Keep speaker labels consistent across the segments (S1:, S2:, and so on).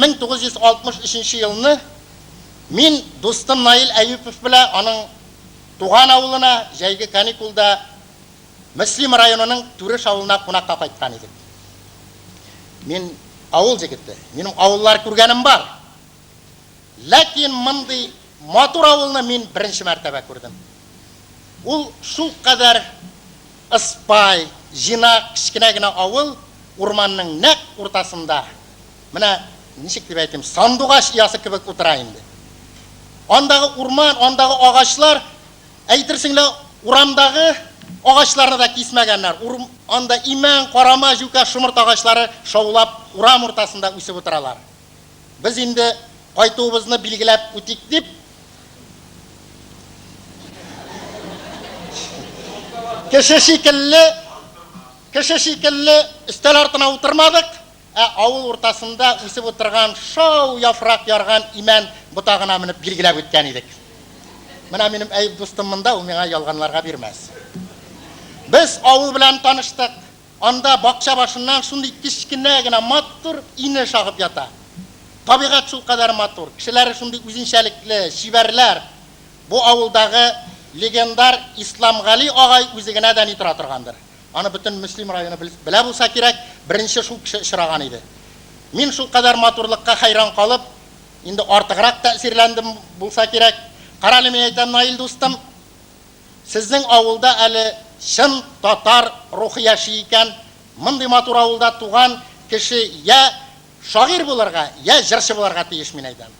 S1: 1963 елны мин дустым Наил Әюпов белә аның туган авылына җәйге каникулда Мөслим районының Түреш авылына кунакка кайткан идек. Мин авыл җегете, минем авыллар күргәнем бар. Ләкин мондый матур авылны мин беренче мәртәбә күрдем. Ул шулкадәр ыспай, җыйнак, кечкенә генә авыл, урманның нәкъ уртасында. Менә, ничек дип әйтим, сандугач оясы кебек утыра инде. Андагы урман, андагы агачлар, әйтерсең лә урамдагы агачларны да кисмәгәннәр. Анда имән, карама, җүкә, шомырт агачлары шаулап урам уртасында үсеп утыралар. Без инде кайтуыбызны билгеләп үтик дип, кеше шикелле, кеше шикелле өстәл артына утырмадык, Ә авыл уртасында үсеп утырган шау яфрак ярган имән ботагына менеп билгеләп үткән идек. Менә минем Әюп дустым монда, ул миңа ялганларга бирмәс. Без авыл белән таныштык. Анда бакча башыннан шундый кечкенә генә матур инеш агып ята. Табигать шулкадәр матур, кешеләре шундый үзенчәлекле, чибәрләр. Бу авылдагы легендар Исламгали агай үзе генә дә ни тора торгандыр. Аны бөтен Мөслим районы белә булса кирәк, беренче шул кеше очраган иде. Мин шулкадәр матурлыкка хәйран калып, инде артыграк тәэсирләндем булса кирәк. Карале, мин әйтәм, Наил дустым, сезнең авылда әле чын татар рухы яши икән, мондый матур авылда туган кеше я шагыйрь булырга, я җырчы булырга тиеш, мин әйтәм.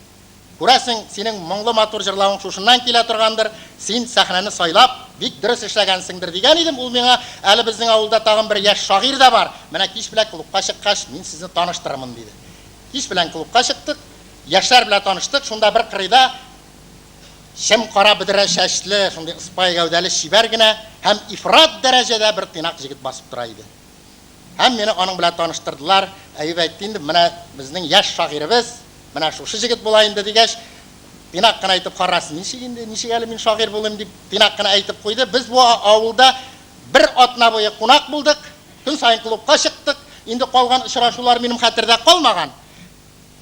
S1: Күрәсең, синең моңлы матур җырлавың шушыннан килә торгандыр, син сәхнәне сайлап, бик дөрес эшләгәнсеңдер, дигән идем ул миңа, әле безнең авылда тагын бер яшь шагыйрь дә бар, менә кич белән клубка чыккач, мин сезне таныштырырмын, диде. Кич белән клубка чыктык, яшьләр белән таныштык, шунда бер кырыйда чем кара бөдрә чәчле, шундый ыспай гәүдәле чибәр генә һәм ифрат дәрәҗәдә бер тыйнак җегет басып тора иде. Һәм мине аның белән таныштырдылар. Әюп әйтте инде, менә безнең яшь шагыйребез, менә шушы җегет була инде, дигәч, тыйнак кына әйтеп, карасын, ничек инде, ничек әле мин шагыйрь булыйм, дип, тыйнак кына әйтеп куйды. Без бу авылда бер атна буе кунак булдык, көн саен клубка чыктык. Инде калган очрашулар минем хәтердә калмаган.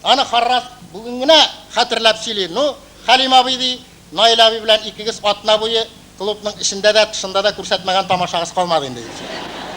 S1: Аны Харрас бүген генә хәтерләп сөйли, Ну, Хәлим абый, ди, Наил абый белән икегез атна буе клубның эчендә дә, тышында да күрсәтмәгән тамашагыз калмады инде, ди.